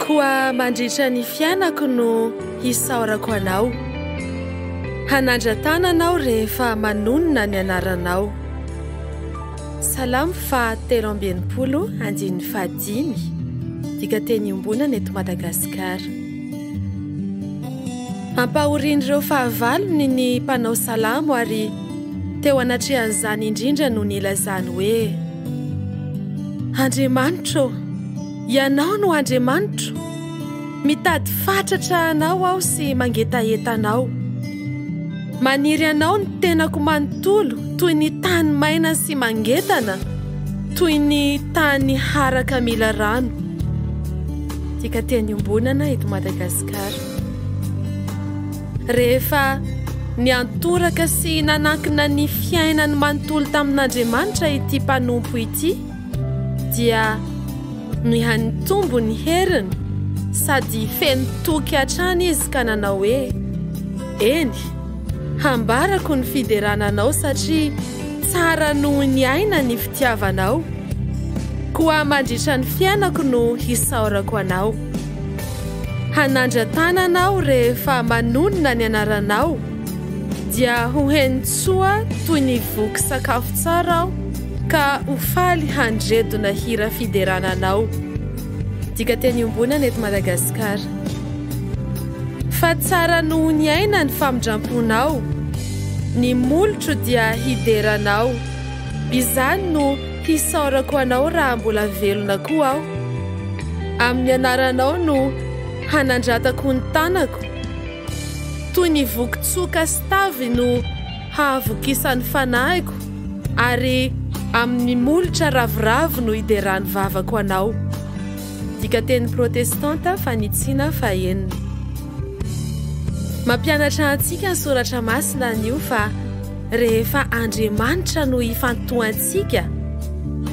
Koa mandritra ny fiainako no hisaorako anao hanandratananao rehefa manonona ny anaranao salamo fa telo ambienimpolo andinny fahadimy dika teny ombona ny eto madagasikara ampahorian'ireo fahavalony ny mpanao salamo ary Teo anatrehan'izany indrindra no nilazany hoe, Andriamanitra ô, Ianao no Andriamanitro. Mitady fatratra Anao aho sy mangetaheta Anao. Maniry Anao ny tenako manontolo toy ny tany maina sy mangetana, toy ny tany haraka mila rano. Dikateny iombonana eto Madagasikara. Rehefa niantoraka sy nanankina ny fiainany manontolo tamin'Andriamanitra ity mpanompo ity, dia nihanitombo ny heriny sady feno toky hatrany izy ka nanao hoe, Eny, hambarako ny fiderana Anao satria tsara noho ny aina ny fitiavanao. Koa mandritra ny fiainako no hisaorako Anao. Hanandra-tanana aho rehefa manonona ny anaranao, dia ho heno tsoa toy ny voky sakafo tsara aho, ka ho faly handredona hira fiderana anao. Dikanteny iombonana eto Madagasikara. Fa tsara noho ny aina ny famindram-ponao, ny molotro dia hidera anao, izany no Hisaorako Anao raha mbola velona koa aho. Amin'ny anaranao no hanandratako ny tanako. Toy ny voky tsoka sy tavy no hahavokisan'ny fanahiko, ary amin'ny molotra ravoravo no hideran'ny vavako Anao. Dikanteny protestanta fanitsiana fahenina. Mampianatra antsika ny Soratra Masina anio fa. rehefa Andriamanitra no ifantohantsika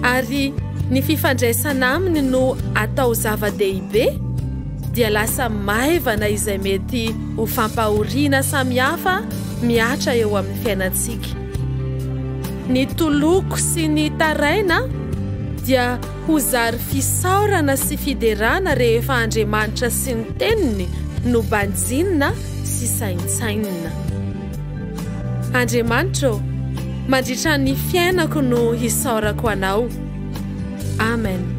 ary ny fifandraisana aminy no atao zava-dehibe dia lasa maivana izay mety ho fampahoriana samihafa mihatra eo amin'ny fiainantsika. Ny toloko sy ny taraina dia ho zary fisaorana sy fiderana rehefa Andriamanitra sy ny Teniny no banjinina sy saintsainina. Andriamanitra ô, mandritra ny fiainako no hisaorako Anao. Amen.